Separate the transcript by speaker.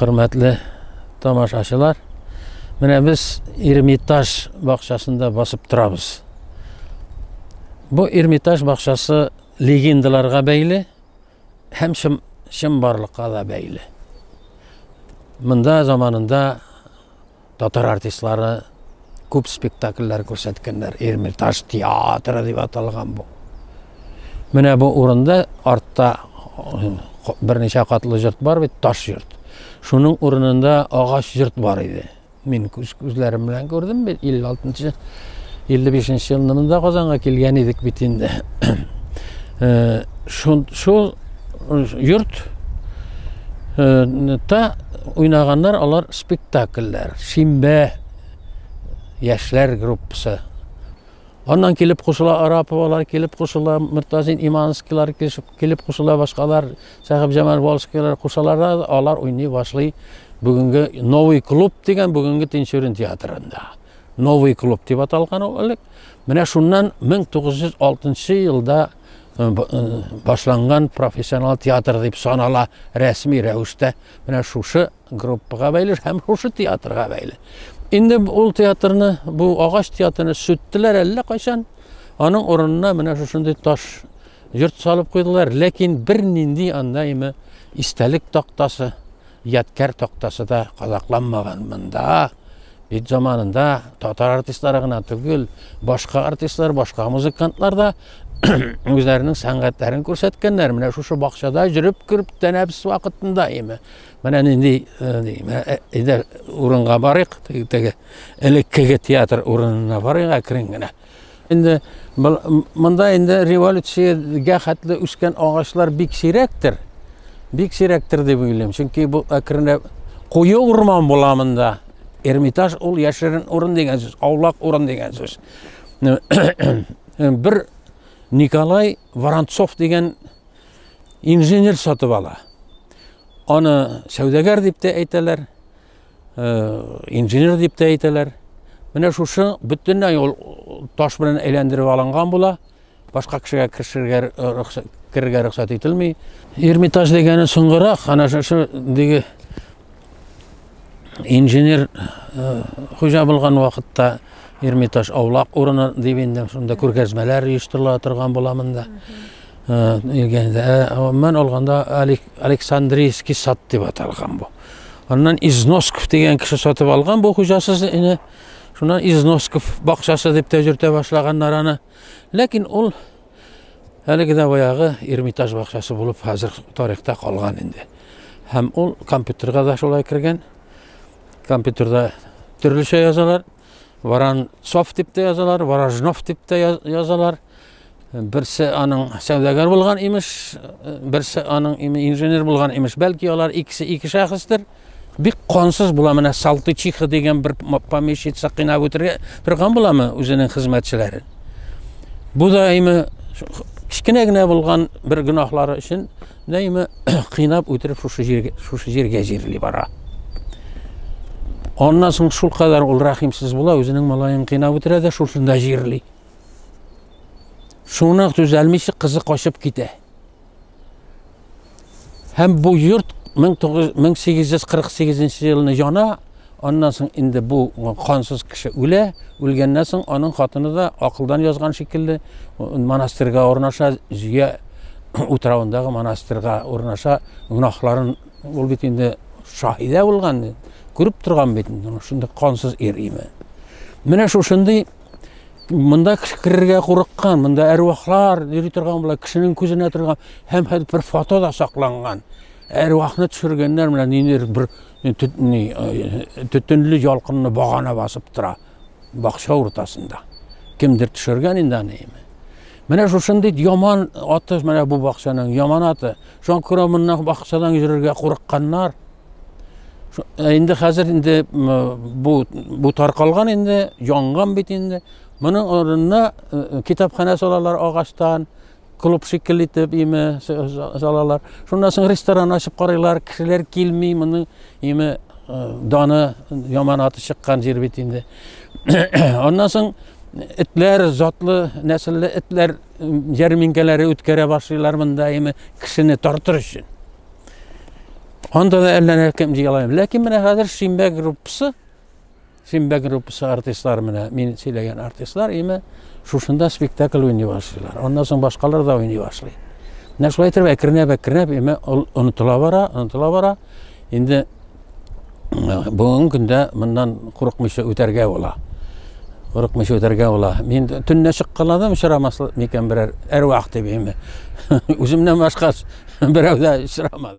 Speaker 1: Хөрмәтле тамашачылар, менә без Эрмитаж бакчасында басып торабыз. Бу Эрмитаж бакчасы легендаларга бәйле һәм чын, чын барлыкка да бәйле. Монда заманында Татар артистлары күп спектакльләр күрсәткәннәр. Эрмитаж театры дип аталган бу. Менә бу урында артта берничә катлы йорт бар бит, таш йорт. Шуның урынында агач йорт бар иде. Мин күз күзләрем белән күрдем бит 56-нчы 55-нче елында Казанга килгән идек бит инде. Э, шул йорт та уйнаганнар алар спектакльләр шимбә яшьләр группасы аннан килеп кушыла араповалар килеп кушыла мортазин иманскийлар килеп кушыла башкалар сәхиб җамал волжскийлар кушалар да алар уйный башлый бүгенге новый клуб дигән бүгенге тинчурин театрында новый клуб дип аталган ул элек менә шуннан 1906 елда башланган профессионал театр дип санала рәсми рәвештә менә шушы группага бәйле һәм шушы театрга бәйле инде ул театрны бу агач театрны сүттеләр әллә кайчан аның урынына менә шушындый таш йорт салып куйдылар ләкин бернинди анда име истәлек тактасы Ядкәр тактасы да кадакланмаган монда. Бит заманында татар артистлары гына түгел, башка артистлар, башка музыкантлар да үзләренең сәнгатьләрен күрсәткәннәр. Менә шушы бакчада җөреп күреп тәнәфс вакытында име. Менә нинди әйдә урынга барыйк, теге элеккеге театр урынына барыйк әкрен генә. Инде монда инде революциягә хәтле үскән агачлар бик сирәктер. Бик сирәктер дип уйлыйм. Чөнки бу әкренләп куе урман була монда. Эрмитаж ул яшерен урын дигән сүз, аулак урын дигән сүз. Бер Николай Воронцов дигән инженер сатып ала. Аны сәүдәгәр дип тә әйтәләр. инженер дип тә әйтәләр менә шушы бөтенләй ул таш белән әйләндереп алынган була башка кешегә керергә рөхсәт керергә рөхсәт ителми эрмитаж дигәне соңгырак ана шушы диге инженер хуҗа булган вакытта эрмитаж аулак урыны дип инде шунда күргәзмәләр оештырыла торган була монда Илгәндә, гомумән алганда, Александрийский сад дип аталган бу. Аннан Износков дигән кеше сатып алган бу хуҗасыз ине. Шуннан Износков бакчасы дип тә йөртә башлаганнар аны. Ләкин ул әлеге дә баягы Эрмитаж бакчасы булып хәзер тарихта калган инде. Һәм ул компьютерга да шулай кергән. Компьютерда төрлечә язалар. Воронцов дип тә язалар, Ворожнов дип тә язалар. Берсе аның сәүдәгәр булган имеш, берсе аның инженер булган имеш. Бәлки алар икесе ике шәхестер. Бик кансыз була менә Салтычиха дигән бер помещица кыйнап үтерә торган буламы үзенең хезмәтчеләрен. Бу да име кечкенә генә булган бер гөнаһлары өчен Нәймә кыйнап үтереп шушы җиргә шушы җиргә җирли бара. Аннан соң шул кадәр ул рәхимсез була, үзенең малаен кыйнап үтерә дә шушында җирли. Шуны төзәлмичә кызы качып китә. Һәм бу йорт 1848 елны яна, Аннан соң инде бу кансыз кеше үлә, үлгәннән соң аның хатыны да акылдан язган шикелле монастырьга урнаша, Зөя утравындагы монастырьга урнаша, гөнаһларын ул бит инде шаһидә булган, күреп торган бит инде шундый кансыз ир име. Менә шушындый монда керергә курыккан, монда әрвахлар йөри торган була, кешенең күзенә торган һәм хәтта бер фото да сакланган. Әрвахны төшергәннәр менә ниндидер бер Төтенле ялкынны багана басып тора бакча уртасында. Кемдер төшергән инде аны име. Менә шушындый яман аты, менә бу бакчаның яман аты. Шуңа күрә моннан бакчадан йөрергә курыкканнар. Э, инде хәзер инде бу бу таркалган инде, янган бит инде. Моның орнына э, э, китапханә салалар агачтан, клуб шикелле итеп име салалар. Шуннан соң ресторан ачып карыйлар, кешеләр килми, моның име даны яман аты чыккан җир бит инде. Аннан соң этләр, затлы, нәселле этләр ярминкәләре үткәрә башлыйлар монда име кешене тартыр өчен. Анда да әллә кем җыела. Ләкин менә хәзер Шимбә группасы Симбә группасы артистлары менә мин сөйләгән артистлар име шушында спектакль уйный башлыйлар. Аннан соң башкалар да уйный башлый. Менә шулай итеп әкренләп әкренләп име онытыла бара, онытыла бара. Инде бүгенге көндә моннан курыкмыйча үтәргә була. Курыкмыйча үтәргә була. Мин төнлә чыккаладым очрамас микән берәр әрвах дип име. Үземнән башка берәү дә очрамады.